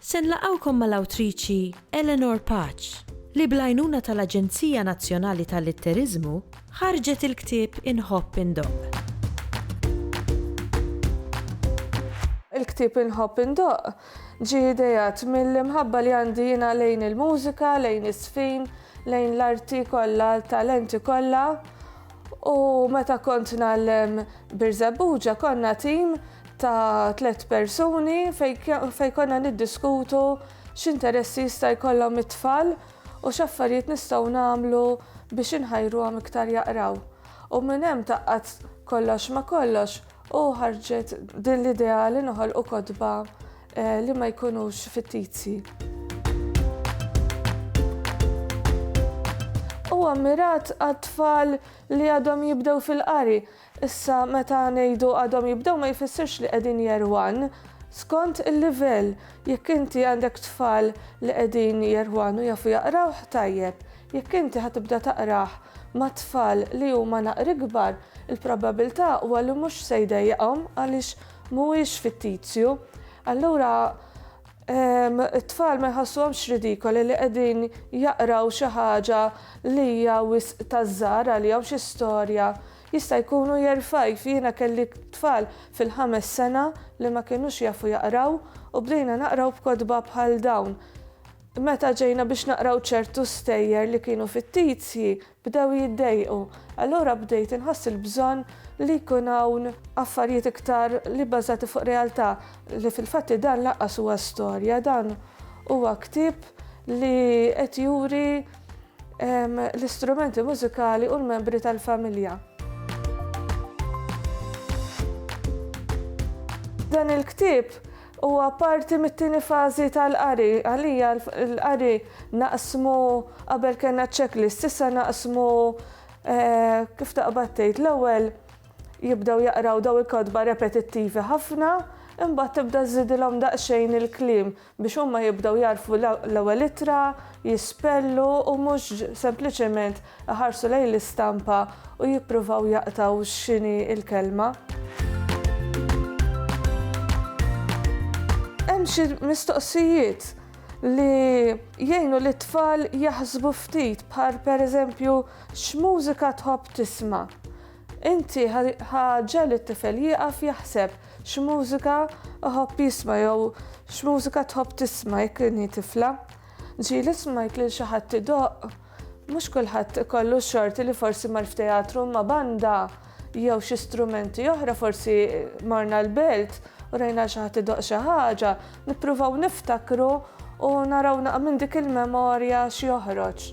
Se nlaqgħukom mal-awtriċi Eleanor Paċ, li bl-għajnuna tal-Aġenzija Nazzjonali tal-Litteriżmu ħarġet il-ktieb Inħobb Indoqq. Il-ktieb Inħobb Indoqq ġie ideat mill-imħabba li għandi jiena lejn il-mużika, lejn iż-żfin, lejn l-arti kollha, l-talenti kollha, U meta kont nallem Birżebbuġa konna tim ta' tliet persuni fejn konna niddiskutu x'interessi jista' jkollhom it-tfal u x'affarijiet nistgħu nagħmlu biex inħajruhom iktar jaqraw. U minn hemm taqqat kollox ma' kollox u ħarġet din l-idea li noħolqu kotba li ma jkunux fittizji. Huwa mmirat għat-tfal li għadhom jibdew fil-qari. Issa meta ngħidu għadhom jibdew ma jfissirx li qegħdin year one. Skont il-livell, jekk inti għandek tfal li qegħdin year one u jafu jaqrawh, tajjeb. Jekk inti ħa tibda taqrah ma' tfal li huma naqr ikbar, il-probabilità huwa li mhux se jdejjaqhom għaliex mhuwiex fittizju, allura it-tfal ma jħassuhomx ridikoli li qegħdin jaqraw xi ħaġa li hija wisq taż-żgħar għalihom xi storja. Jista' jkun hu jerfajf, jiena kelli tfal fil-ħames sena li ma kinux jafu jaqraw u bdejna naqraw b'kotba bħal dawn. Meta ġejna biex naqraw ċertu stejjer li kienu fittizji, bdew jiddejqu. Allura bdejt inħoss il-bżonn li jkun hawn affarijiet iktar li bbażati fuq realtà, li fil-fatt li dan lanqas huwa storja, dan huwa ktieb li qed juri l-istrumenti mużikali u l-membri tal-familja. Dan il-ktieb Huwa parti mit-tieni fażi tal-qari. Għalija l-qari naqsmu qabel kellna checklist, issa naqsmu kif taqbad tgħid l-ewwel jibdew jaqraw daw il-kotba repetittivi ħafna, imbagħad tibda żżidilhom daqsxejn il-kliem biex huma jibdew jagħrfu l-ewwel ittra, jispellu u mhux sempliċement iħarsu lejn l-istampa u jippruvaw jaqtgħu x'inhi l-kelma. Hemm xi mistoqsijiet li jgħinu lit-tfal jaħsbu ftit bħal pereżempju x'mużika tħobb tisma'. Inti ħa ġegħel it-tifel jieqaf jaħseb x'mużika iħobb jisma' jew x'mużika tħobb tisma' jekk inhi tifla. Ġieli smajt lil xi ħadd idoqq Mhux kulħadd ikollu x-xorti li forsi mar f'teatru imma banda jew xi strumenti oħra forsi morna l-belt u rajna l xi ħadd idoqq xi ħaġa, nippruvaw niftakru u naraw naqra minn dik il-memorja x'joħroġ.